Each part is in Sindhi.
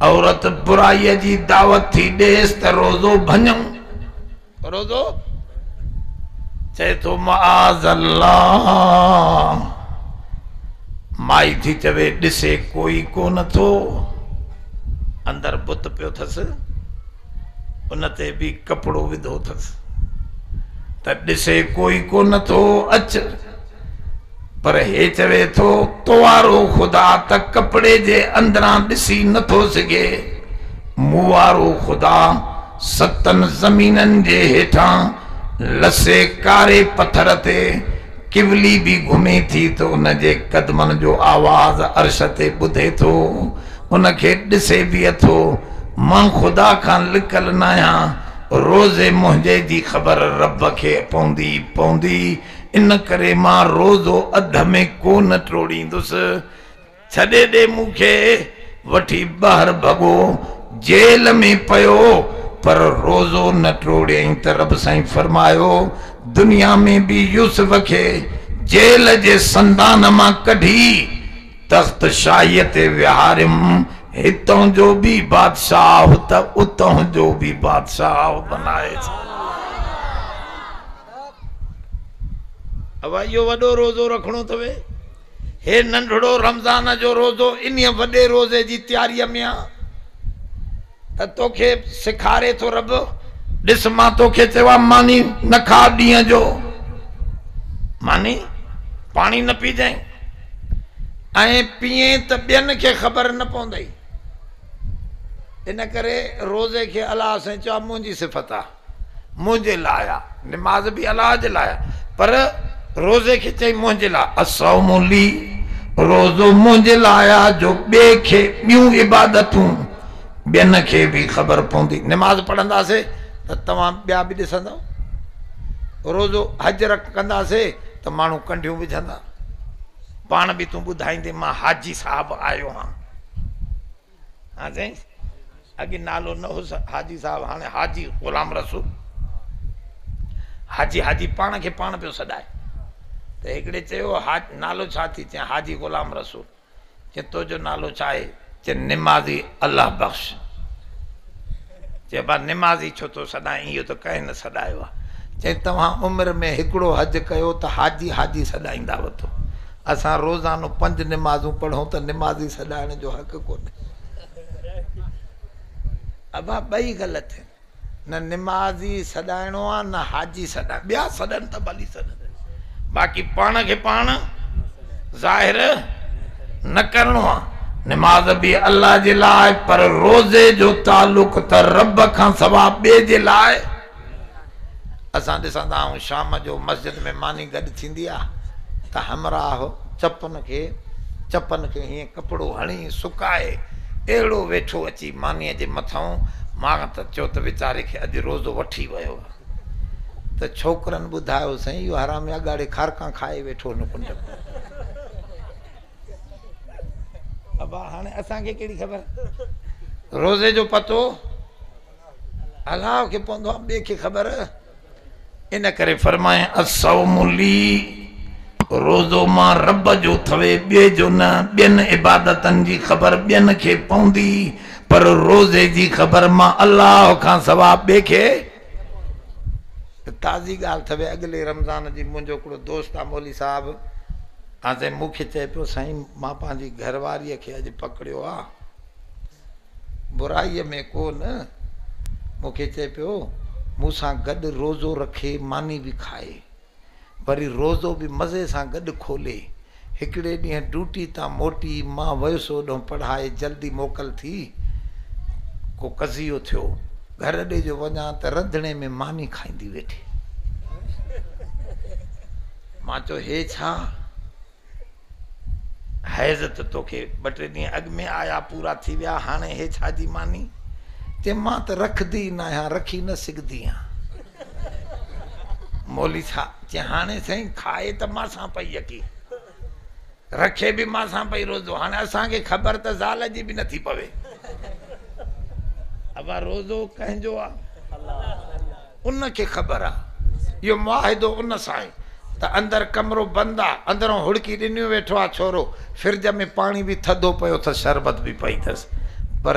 عورت برائيء جي دعوت ٿي ڏيس ته روزو ڀڃئون، روزو چئي ٿو معاذ الله، مائي ٿي چوي ڏسي ڪوئي ڪونه ٿو، اندر بت پيو ٿس. ان تي به ڪپڙو وڌو اٿس ته ڏسي ڪوئي ڪونه ٿو اچ پر هي چوي ٿو توارو خدا ته ڪپڙي جي اندران ڏسي نٿو سگهي موارو خدا ستن زمينن جي هيٺان لسي ڪاري پٿر تي ڪولي به گهمي ٿي ته ان جي قدمن جو آواز عرش تي ٻڌي ٿو، ان کي ڏسي به اٿو. مان خدا کان لڪل ناهيان، روز منهنجي جي خبر رب کي پوندي ئي پوندي، ان ڪري مان روزو اڌ ۾ ڪو نه ٽوڙيندس. ڇڏي ڏي مون کي وٺي ٻاهر ڀڳو جيل ۾ پيو پر روزو نه ٽوڙيائين ته رب سائين فرمايو دنيا ۾ به يوسف کي جيل جي سندان مان ڪڍي تخت شاهيء تي ويهاريم هتان جو به بادشاهه ته اتان جو به بادشاهه بنائي ڇڏيم. اوا اهو وڏو روزو رکڻو اٿوي. هي ننڍڙو رمضان جو روزو انهيء وڏي روزي جي تياريء ۾ آ ته توکي سيکاري ٿو رب. ڏس مان توکي چيو آ ماني نه کاء ڏينهن جو ماني پاڻي نه پيجانء ائين پيئين ته ٻين کي خبر نه پوندئي ان ڪري روزي کي الله سائين چيو آ منهنجي صفت آ. منهنجي لاء آ نماز به الله جي لاء آ پر روزي کي چئي منهنجي لاء الصوم لي روزو منهنجي لاء آ جو ٻئي کي ٻيون عبادتون ٻين کي به خبر پوندي نماز پڙهنداسي ته توهان ٻيا به ڏسندؤ روزو حج رک ڪنداسي ته ماڻهو ڪنڍيون وجهندا پاڻ به تون ٻڌائيندي مان حاجي صاحب آيو هان ها سائين اڳي نالو نه هوس حاجي صاحب هاڻي حاجي غلام رسول حاجي حاجي پاڻ کي پاڻ پيو سڏائي ته هڪڙي چيو حاج نالو ڇا ٿي چيان حاجي غلام رسول چي تو جو نالو ڇا آهي چي نمازي الله بخش چيو ڀلا نمازي ڇو ٿو سڏائين اهو ته ڪنهن نه سڏايو آهي. چيائين توهان عمر ۾ هڪڙو حج ڪيو ته حاجي حاجي سڏائيندا وتو. اسان روزانو پنج نمازون پڙهون ته نمازي سڏائڻ جو حق ڪونهي. ابا ٻئي غلط آهن. نه نمازي سڏائڻو آهي نه حاجي سڏائڻو. ٻيا سڏن ته ڀلي سڏن باقي پاڻ کي پاڻ. ظاهر نه ڪرڻو آ. نماز به الله جي لاء پر روزي جو تعلق ته رب کان سوا ٻئي جي لاء اسان ڏسندا آهيون شام جو مسجد ۾ ماني گڏ ٿيندي آ ته همراهه چپن کي چپن کي هيئن ڪپڙو هڻي سڪائي اهڙو ويٺو اچي ماني جي مٿئون مان ته چيو ته ويچاري کي اڄ روزو وٺي ويو آ. ته ڇوڪرن ٻڌايو سائين اهو حرامي اڳاڙي کارڪان کائي ويٺو هن ڪنڊ ۾ ابا هاڻي اسان کي ڪهڙي خبر روزي جو پتو الله کي پوندو آ ٻي کي خبر ان ڪري فرمائي الصوم لي روزو مان رب جو ٿوي ٻي جو نه ٻين عبادتن جي خبر ٻين کي پوندي پر روزي جي خبر مان الله کان سوا ٻئي کي ته تازي ڳالهه ٿوي اڳلي رمضان جي منهنجو هڪڙو دوست آ مولي صاحب آ تي مون کي چئي پيو سائين مان پنهنجي گهر واري کي اڄ پڪڙيو آ برائي ۾ ڪو نه مون کي چئي پيو مون سان گڏ روزو رکي ماني به کائي وري روزو به مزي سان گڏ کولي. هڪڙي ڏينهن ڊيوٽي تان موٽي مان ويس اوڏهون پڙهائي جلدي موڪل ٿي. ڪو قضيو ٿيو. گهر اڏي جو وڃان ته رڌڻي ۾ ماني کائيندي ويٺي. مان چيو هي ڇا؟ حيض ته توکي ٻه ٽي ڏينهن اڳ ۾ آيا پورا ٿي ويا هاڻي هي ڇا جي ماني چي مان ته رکدي ئي ناهيان رکي نه سگهدي آهيان مولي ڇا چي هاڻي سائين کائي ته مان سان پئي يڪي رکي به مان سان پئي روزو هاڻي اسان کي خبر ته زال جي به نٿي پوي ابا روزو ڪنهن جو آهي ان کي خبر آ اهو معاهدو ان سان آهي ته اندر ڪمرو بند آ اندرون هڙڪي ڏنيون ويٺو آ ڇورو فرج ۾ پاڻي به ٿڌو پيو اٿس شربت به پئي اٿس پر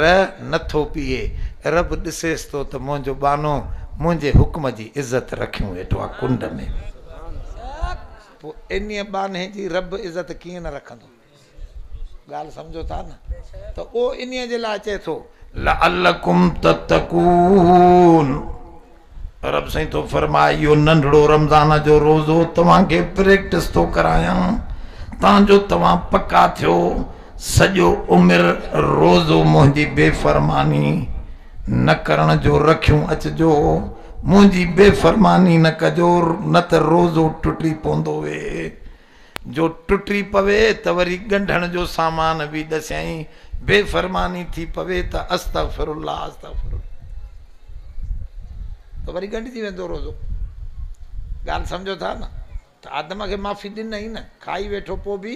نه ٿو پيئي رب ڏسيس ٿو ته منهنجو ٻانهو منهنجي حڪم جي عزت رکيون ويٺو آ ڪنڊ ۾ پوء انهيء ٻانهي جي رب عزت ڪيئن نه رکندو. ڳالهه سمجهو ٿا نه ته اهو انهيء جي لاء چئي ٿو. لعلکم تتقون رب سائين ٿو فرمائي اهو ننڍڙو رمضان جو روزو توهان کي پريڪٽس ٿو ڪرايان تان جو توهان پڪا ٿيو سڄو عمر روزو منهنجي بي فرماني نه ڪرڻ جو رکيون اچجو منهنجي بي فرماني نه ڪجو نه ته روزو ٽٽي پوندوي جو ٽٽي پوي ته وري ڳنڍڻ جو سامان به ڏسيائين بي فرماني ٿي پوي ته استغفر الله استغفر الله ته وري ڳنڍجي ويندو روزو ڳالهه سمجھو ٿا نه ته آدم کي معافي ڏنائين نه کائي ويٺو پوء به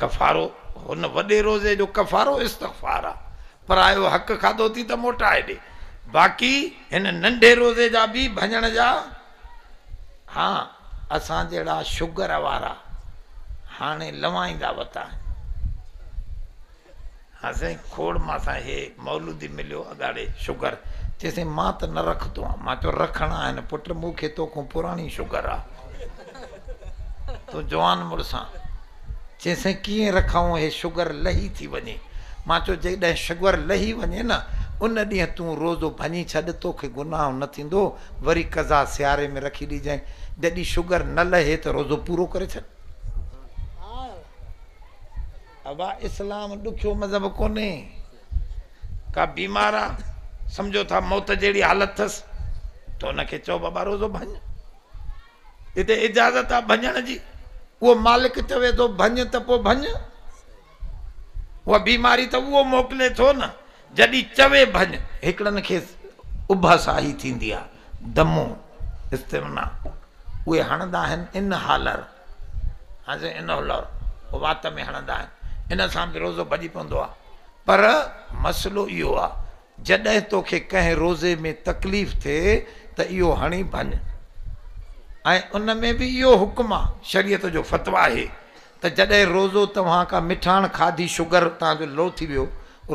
ڪفارو، هن وڏي روزي جو ڪفارو استغفار آ، پرايو حق کاڌو اٿئي ته موٽائي ڏي، باقي هن ننڍي روزي جا به ڀڃڻ جا ها اسان جهڙا شگر وارا هاڻي لوائيندا وتا آهن. ها سائين کوڙ مان سان هي مولودي مليو اڳاڙي شگر چي سائين مان ته نه رکتو آ مان چيو رکڻ آهن پٽ مون کي تو کون پراڻي شگر آ تون جوان مڙس آ چي سائين ڪيئن رکائون هي شگر لهي ٿي وڃي مان چيو جيڪڏهن شگر لهي وڃي نه ان ڏينهن تون روزو ڀڃي ڇڏ تو کي گناهه نه ٿيندو وري قضا سياري ۾ رکي ڏيجانء جڏي شگر نه لهي ته روزو پورو ڪري ڇڏ ابا اسلام ڏکيو مذهب ڪونهي ڪا بيمار آ سمجهو ٿا موت جهڙي حالت ٿس ته ان کي چئو بابا روزو ڀڃ هتي اجازت آ ڀڃڻ جي اهو مالڪ چوي ٿو ڀڃ ته پو ڀڃ اها بيماري ته اهو موڪلي ٿو نه جڏي چوي ڀڃ هڪڙن کي اڀا ساهي ٿيندي آ دمو استمنا اهي هڻندا آهن ان حالر حضرت انه الله او وات ۾ هڻندا آهن ان سان به روزو ڀڄي پوندو آهي پر مسئلو اهو آهي جڏهن توکي ڪنهن روزي ۾ تڪليف ٿئي ته اهو هڻي ڀڃ ۽ ان ۾ به اهو حڪم آهي شريعت جو فتويٰ آهي ته جڏهن روزو توهان ڪا مٺاڻ کاڌي شگر توهان جو لو ٿي ويو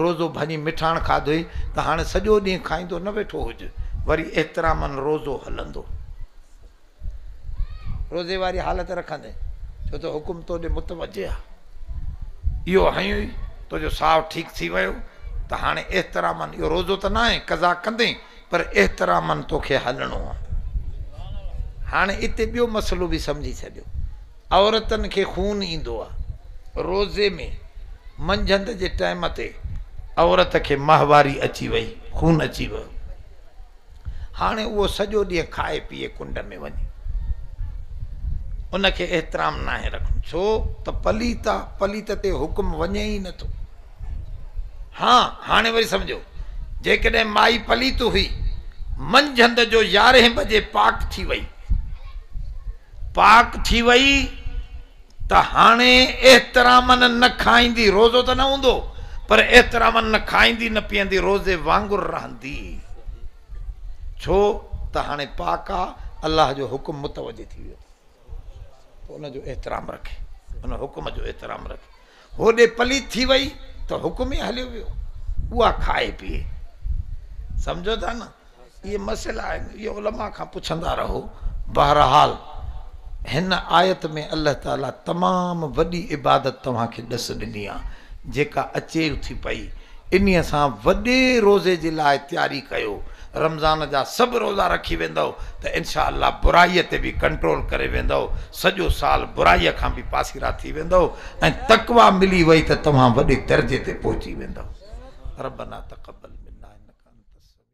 روزو ڀڃي مٺاڻ کاڌوئي ته هاڻي سڄو ڏينهن کائيندو نه ويٺو هج وري احترامن روزو هلندو. روزي واري حالت رکندين، ڇو ته حڪم تو ڏي متوجه آ. اهو هنيو ئي تنهنجو ساهه ٺيڪ ٿي ويو ته هاڻي احتراما اهو روزو ته ناهي، قضا ڪندين، پر احتراما توکي هلڻو آ. هاڻي اتي ٻيو مسئلو به سمجهي ڇڏيو، عورتن کي خون ايندو آ. روزي ۾ منجهند جي ٽائيم تي عورت کي ماهواري اچي وئي، خون اچي ويو. هاڻي اهو سڄو ڏينهن کائي پيئي ڪنڊ ۾ وڃي ان کي احترام ناهي رکڻو ڇو ته پليت آ پليت تي حڪم وڃي ئي نٿو ها هاڻي وري سمجھو جيڪڏهن مائي پليت هئي منجھند جو يارهين بجي پاڪ ٿي وئي پاڪ ٿي وئي ته هاڻي احتراماً نه کائيندي، روزو ته نه هوندو، پر احتراماً نه کائيندي نه پيئندي روزي وانگر رهندي، ڇو ته هاڻي پاڪ آ، الله جو حڪم متوجه ٿي ويو، پوء ان جو احترام رکي، ان حڪم جو احترام رکي. هوڏي پليت ٿي وئي ته حڪم ئي هليو ويو اها کائي پيئي سمجهو ٿا نه اهي مسئلا آهن اهي علماء کان پڇندا رهو بهرحال هن آيت ۾ الله تعالي تمام وڏي عبادت توهان کي ڏس ڏني آهي جيڪا اچيو ٿي پئي انهيء سان وڏي روزي جي لاء تياري ڪيو. رمضان جا سڀ روزا رکي ويندؤ ته انشاء الله برائيء تي به ڪنٽرول ڪري ويندؤ، سڄو سال برائيء کان به پاسيرا ٿي ويندؤ ۽ تقويٰ ملي وئي ته توهان وڏي درجي تي پهچي ويندؤ. ربنا تقبل منا انك انت السميع.